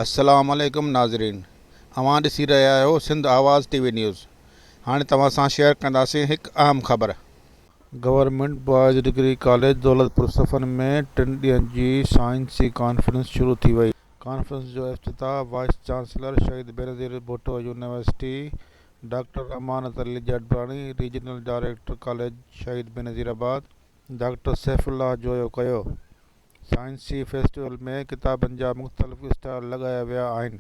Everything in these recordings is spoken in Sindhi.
السلام عليڪم ناظرين اوهان ڏسي رهيا آهيو Sindh Awaz T V news هاڻي توهان سان شيئر ڪنداسين هڪ اهم خبر. Government boys degree college Daulatpur پور صفن ۾ ٽن ڏينهن جي سائنسي ڪانفرنس شروع ٿي وئي. ڪانفرنس جو افتتاح وائيس چانسلر شهيد Benazir Bhutto university doctor Amanat Ali Jatbani regional director college Shaheed Benazir آباد ڊاڪٽر سيف الله جويو ڪيو سائنسي فيسٽيول ۾ ڪتابن جا مختلف اسٽال لڳايا ويا آهن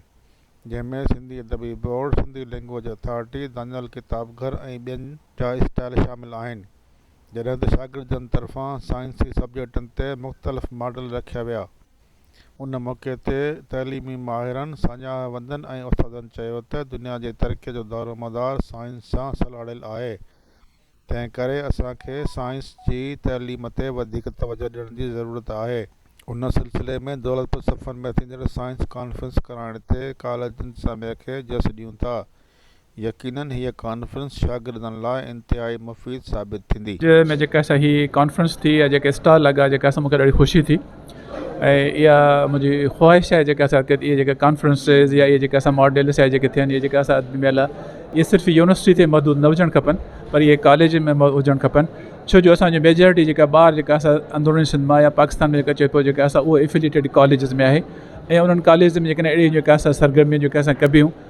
جنهن ۾ Sindhi Adabi board Sindhi language authority Daniyal Kitab Ghar ۽ ٻين جا اسٽال شامل آهن جڏهن ته شاگردن طرفان سائنسي سبجيڪٽن تي مختلف ماڊل رکيا ويا ان موقعي تي تعليمي ماهرن، ساڃاهوندن ۽ استادن چيو ته دنيا جي ترقي جو دارومدار سائنس سان سلهاڙيل آهي، تنهن ڪري اسان کي سائنس جي تعليم تي وڌيڪ توجهه ڏيڻ جي ضرورت آهي. ان سلسلي ۾ دولتپور صفن ۾ ٿيندڙ سائنس ڪانفرنس ڪرائڻ تي ڪاليج انتظاميه کي جس ڏيون ٿا، يقينن هيء ڪانفرنس شاگردن لاء انتهائي مفيد ثابت ٿيندي. ۾ جيڪا سا هي ڪانفرنس ٿي يا جيڪا اسٽال لڳا جيڪا سا مونکي ڏاڍي خوشي ٿي ۽ اها منهنجي خواهش آهي جيڪا سا اهي جيڪا ڪانفرنسز يا اهي جيڪا سا ماڊلس يا جيڪي ٿين اهي جيڪا سا ميلا اهي صرف يونيورسٽي تي محدود نه هجڻ کپن پر اهي ڪاليجن ۾ هجڻ کپن ڇو جو اسان جو ميجارٽي جيڪا ٻار جيڪا سا اندروني سنڌ مان يا پاڪستان ۾ جيڪا چئي پيو جيڪا سا اهو افيليٽيڊ ڪاليجز ۾ آهي ۽ انهن ڪاليجز ۾ جيڪڏهن اهڙي جيڪا سا سرگرمي جيڪا سا ڪبيون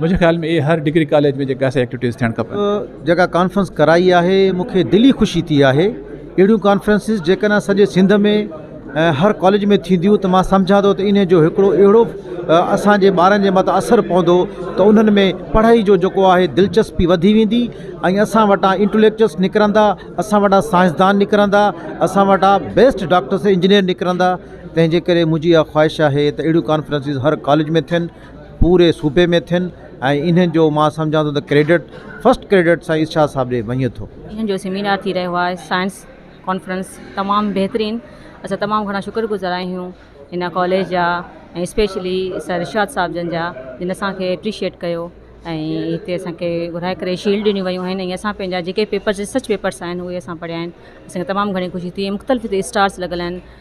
منهنجي خيال ۾ اهي هر ڊگري ڪاليج ۾ جيڪا سا ايڪٽويٽيز ٿيڻ کپن. جيڪا ڪانفرنس ڪرائي آهي مون کي دلي خوشي ٿي آهي اهڙيون ڪانفرنسز جيڪڏهن سڄي سنڌ ۾ ۽ هر ڪاليج ۾ ٿينديون ته مان سمجهان ٿو ته انهن جو هڪڙو اهڙو اسان جي ٻارن جي مٿان اثر پوندو ته انهن ۾ پڙهائي جو جيڪو آهي دلچسپي وڌي ويندي ۽ اسان وٽان انٽليڪچوئلس نڪرندا اسان وٽان سائنسدان نڪرندا اسان وٽان بيسٽ ڊاڪٽرس انجنيئر نڪرندا تنهنجي ڪري منهنجي اها خواهش آهي ته اهڙيون ڪانفرنسز هر ڪاليج ۾ ٿين پوري صوبي ۾ ٿين ۽ انهن جو مان سمجهان ٿو ته ڪريڊٽ فرسٽ ڪريڊٽ سائين ارشاد صاحب ڏي وڃي ٿو. انهن جو سيمينار ٿي رهيو آهي سائنس ڪانفرنس تمام بهترين اسان تمام گهڻا شڪر گذار آهيون هن ڪاليج جا ۽ اسپيشلي سر ارشاد صاحب جن جا جن اسان کي اپريشيئٽ ڪيو ۽ هتي اسان کي گهرائي ڪري شيلڊ ڏنيون ويون آهن ۽ اسان پنهنجا جيڪي پيپرس ريسرچ پيپرس آهن اهي اسان پڙهيا آهن اسان کي تمام گهڻي خوشي ٿي مختلف هتي اسٽالس لڳل آهن